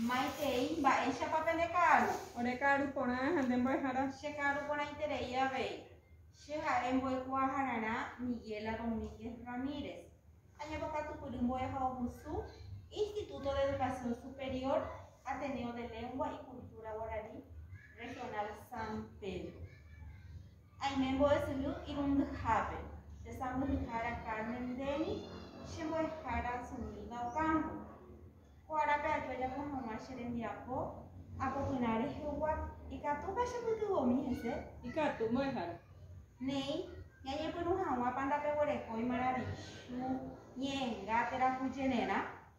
Maitei, mba'éichapa pende ka'aru? Ore ka'aru porã ha nde mbo'ehára. Che ka'aru porãiterei avei. Che ha'e mbo'ekuaahararã Miguela Domínguez Ramírez. Añapokatupyry mbo'ehaovusu Instituto de Educación Superior Ateneo de Lengua y Cultura Guarani Regional San Pedro. Aime mbo'esyry irundyhápe. Che sãmbyhyhára Carmen ndéni, che mbo'ehára Zumilda Ocampo. Ko árape aju ajapo hag̃ua che rembiapo, apopyrã rehegua, Ikatúpa chepytyvõmi hese? Ikatu, mbo'ehára. Néi, ñañepyrũ hag̃ua panda peguerekói maravichu, ñe'ẽnga, térã ku jererã.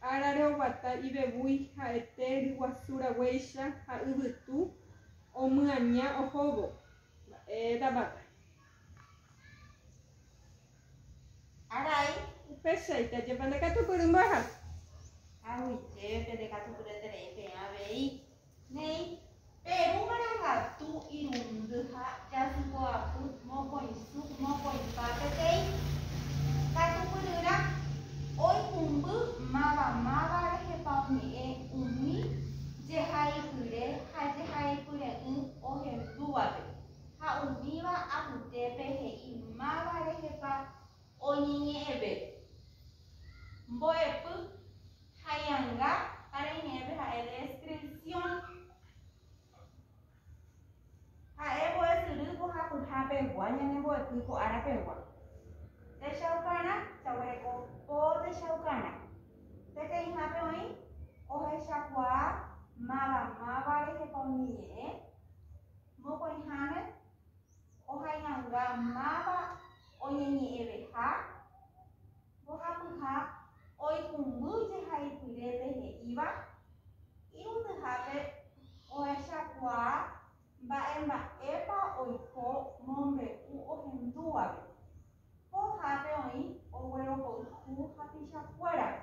Árare oguata ivevúi ha'ete ryguasu raguéicha ha yvytu omyaña ohóvo. Mba'éta vaka. Arai. Upéichaite ajépa ndekatupyry mbo'ehápe. Haguitépe ndekatupyreterei peẽ avei. Néi, Peru marangatu irundy ha jasypoapy mokõisu mokõipa peteĩ katupyryrã oikũmby mavamáva rehepa oñe'ẽ umi jehaipyre ha jehaipyre'ỹ ohendúvape ha umíva apytépe he'i máva rehepa oñeñe'ẽve mbo'epy Haianga ha reime'ẽpe ha'e descripción. Ha'e mbo'esyry mbohapyha pegua ñane mbo'epy ko ára pegua. Techaukarã, jaguereko po techaukarã. Peteĩhápe oĩ ohechakuaa máva máva rehepa umi ñe'ẽ, mokõiháme ohaianga máva oñeñe'ẽveha, Mbohapyha oikũmby jehaipyrépe he'íva irundyhápe ohechakuaa mba'emba'épa oiko mombe'u ohendúvape. Pohápe oĩ oguerohoyhu hapichakuérape.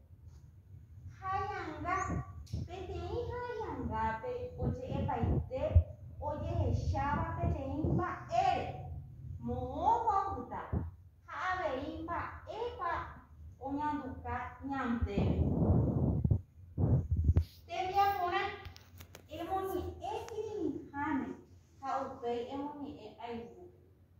Haianga. Peteĩ haiangápe oje'epaite ojehecháva peteĩ mba'ére, moõpa opyta ha avei mba'épa oñanduka ñandéve. Tembiaporã, emoñe'ẽ kirirĩháme ha upéi emoñe'ẽ ayvu.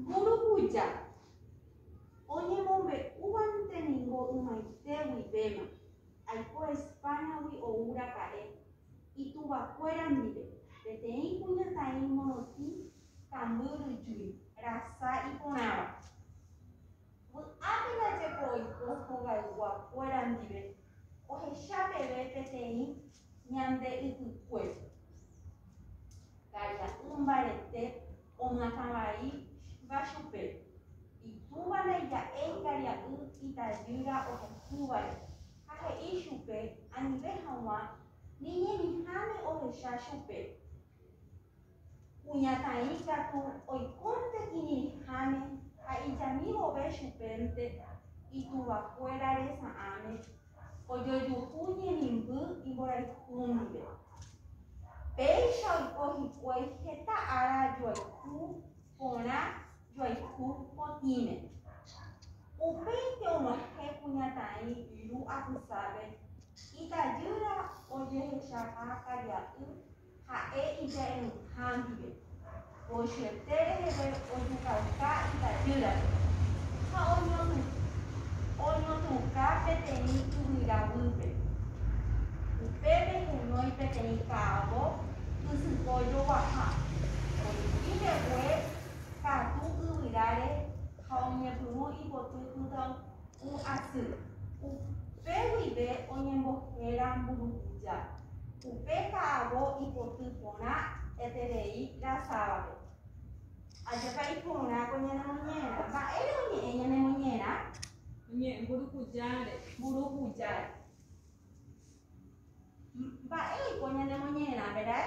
Mburukuja oñemombe'úvante ningo ymaite guivéma, aiko España-gui ou raka'e, ituvakuéra ndive, peteĩ kuñataĩ morotĩ kambyryjúi, rasa iporãva. Vy'ápe ndajepo oiko hogaygua kuéra ndive ohecha peve peteĩ ñande ypykuépe. Ka'ira'y mbarete oñatã vai va chupe, itúva ndaija'éi karia'y itajýra ohekývare ha he'i chupe anive haguã ni ñemiháme ohecha chupe. Kuñataĩ katu oikónte iñirĩháme ha ijami vove chupénte ituvakuéra resa'ãme ojojuhu ñemimby imborayhu ndive. Péicha oiko hikuái heta ára joayhu porã joayhu potĩme. Upéinte og̃uahẽ kuñataĩ Lu apysápe, itajýra ojehechaha karia'y Ha'e ija'eruha ndive, pochyeté reheve ojukauka itajýrape, ha oñotũka peteĩ yvyra guýpe. Upépe kunói peteĩ ka'avo ysypo joguaha, ojupi mbegue katu yvyráre ha oñepyrũ ipoty pytãunguépe. Ku asy. Upe guive oñembohéra mburukuja. Upe ka'avo ipoty porã eterei rasávape. Ajépa iporã ko ñane moñera. Mba'ére oñe'ẽ ñane moñera? Oñe'ẽ mburukujáre. Mburukujáre. Mba'e oiko ñane moñera, verái?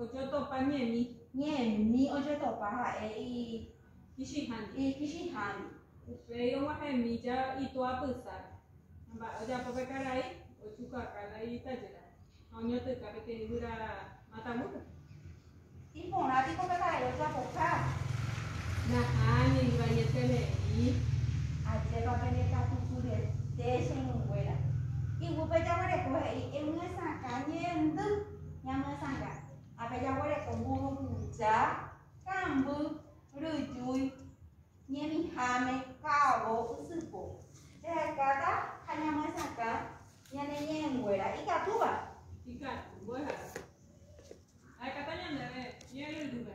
Ojotopa ñe'ẽmi. Ñe'ẽmi ojotopa ha'e ikichĩhándi. Upéi og̃uahẽmi itoa pysáre. Mba'e ojapo pe karai? Ojukaha la itajéra ha oñotỹka peteĩ yvyra matavúpe. Iporã piko pe karai ojapoha? Nahániri, vaiete ne'ĩ. Ajépa penekatusurete che irũnguéra. Iguýpe jaguereko he'i, Emyesakã ñe'ẽndy. ñamyesanga. Ha pe jaguereko mburuvicha, kamby, ryjúi, ñemiháme, ka'avo, ysypo. Jahekáta ha ñamyesakã ñane ñe'ẽnguéra ikatúva. Ikatu, mbo'ehaópe. Jahekáta ñandéve ñe'ẽryrýpe.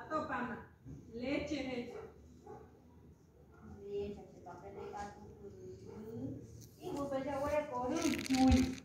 Atopána. Léche hecha. Léche hecha. Iguýpe jaguereko rejúi.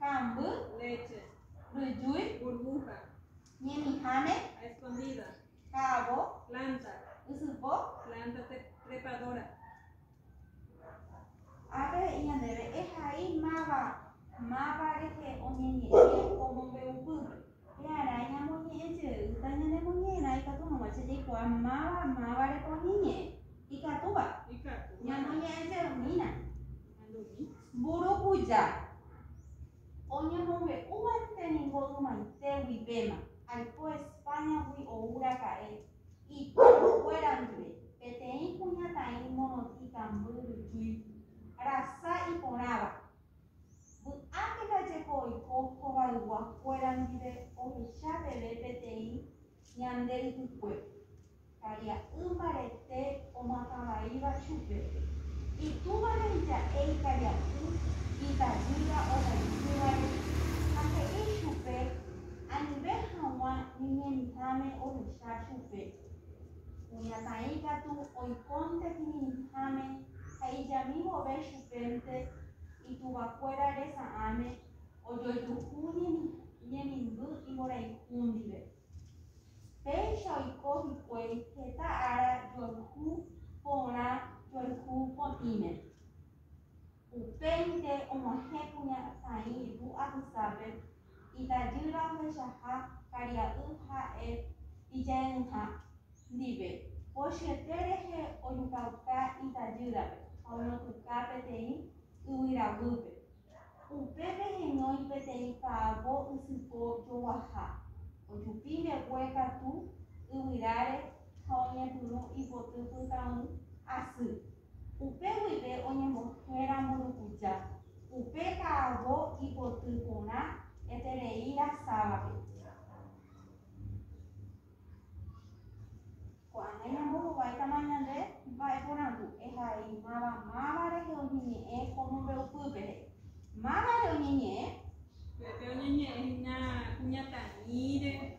Ka'amby. Léche. Ryjúi. Burbuja. Ñemiháme. A escondida. Ka'avo. Planta. Ysypo. Planta trepadora. Ápe he'i ñandéve ehai máva, máva rehe oñeñe'ẽ omombe'upýpe. Pearai ñamoñe'ẽ jeýta ñanemoñe'ẽrã ikatu hag̃ua che jaikuaa máva mávarepa umi ñe'ẽ. Ikatúva? Ikatúva. Ñamoñe'ẽ jeymína. Andumi. Mburukuja. Oñemombe'úvante ningo ymaite guivéma, aiko Españagui ou raka'e, itóngokuéra ndive, peteĩ kuñataĩ morotĩkamby ryjúi, rasa iporãva. Vy'ápe jajeko oiko hovayguakuéra ndive ohecha peve peteĩ ñande ypykue, karia'y mbarete omatavãíva chupe, itúvape ija'e ikaria'y itavýva ohaitývare ha he'i chupe anive hag̃ua ñeñemitãme ohecha chupe. Kuñataĩ katu oikónte kirirĩháme ha ijami vove chupénte ituvakuéra resa'ãme ojojuhu ñemimby imborayhu ndive. Péicha oiko hikuái heta ára joayhu porã joayhu potĩme. Upéinte og̃uahẽ kuña Saĩ Ru apysápe, itajýra ohechaha karia'y ha'e ijaenyhã ndive, pochyete rehe ojukauka itajýrape ha oñotũka peteĩ yvyra guýpe. Upépe heñói peteĩ ka'avo ysypo joguaha, ojupi mbegue katu yvyráre ha oñepyrũ ipoty pytãu asy. Upe guive oñembohera mburukuja, upe ka'avo ipoty porã eterei rasávape. Ko'ág̃a ñambohovái tama ñande mba'e porandu ehaimáva máva rehe oñeñe'ẽ ko mombe'upy pere. Máva re oñeñe'ẽ? Upépe oñeñe'ẽ hína kuñataĩre.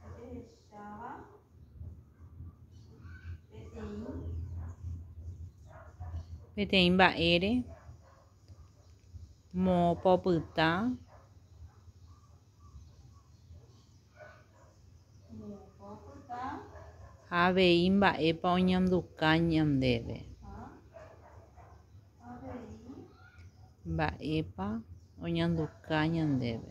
Jahecháva peteĩ mba'ére mopopyta ha avei mba'épa oñanduka ñandéve. Mba'épa oñanduka ñandéve.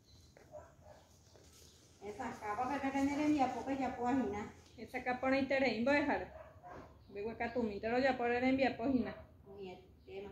Esakãpa pe pépe ne rembiapo pejapo ahina. Esakã porãiterei mbo'ehára. Mbeguekatũmínte rojapo re rembiapo hína. Umi etéma.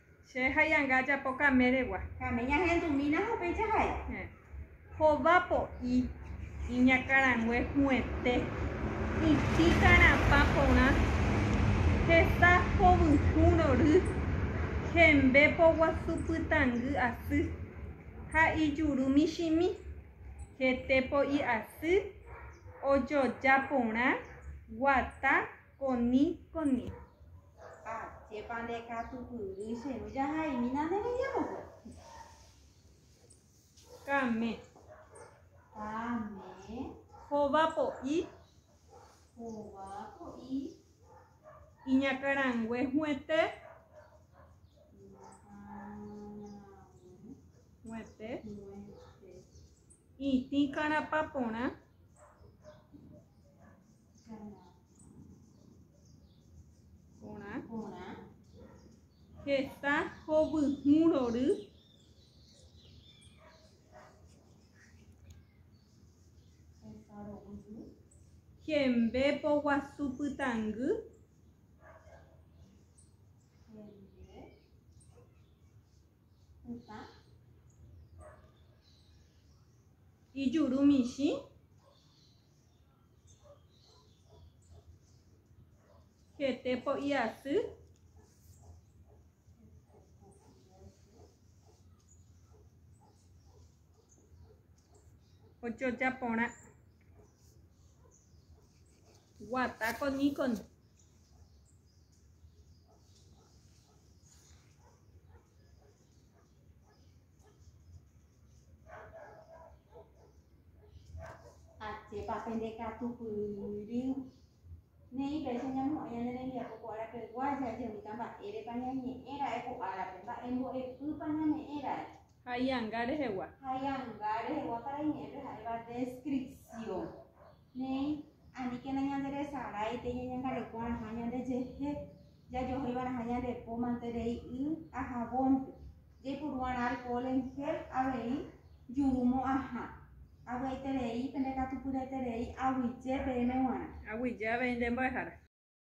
Che haianga ajapo kaméregua. Kame ñahendumína ha upéicha ha'e. Hova po'i, iñakãrangue hu'ẽte, itĩ karãpa porã, heta hovyũ rory, hembe poguasu pytãngy asy ha ijuru michĩmi, hete po'i asy, ojoja porã, guata, Koni, koni. Ha chépa nde katupyry che ru jahaimína nde rembiapokuéra. Kame. Kame. Hova po'i. Hova po'i. Iñakarangue huete. Huete. Itĩ karapa porã. Porã. Porã. Heta hovyhũ rory. Heta rovyhũ. Hembe poguasu pytangy. Hembe. Pytã. Ijuru michĩ. Hete po'i asy. Ojoja porã. Guata con Nikon. Ajépa pende katu pyry. Neí péicha ñamo'ẽ ñane rembiapo ko árapeguá jajemíta mba'érepa ñañe'ẽ ra'e ko árape, mba'e mbo'epýpa ñame'ẽ ra'e. Ha ianga rehegua. Ha ianga rehegua parañe'ẽpe ha'éva descripción. Néi, aníkena ñanderesaráite ñañangareko'arãha ñandejehe jajohéiva'erãha ñande po mante rei y ha javónpe. Jaiporu'arã alkohol en gel avei juru mo'ãha. Avy'aiterei pende katupyryete rei aguyje peẽme g̃uarã. Aguyje avei nde mbo'ehára.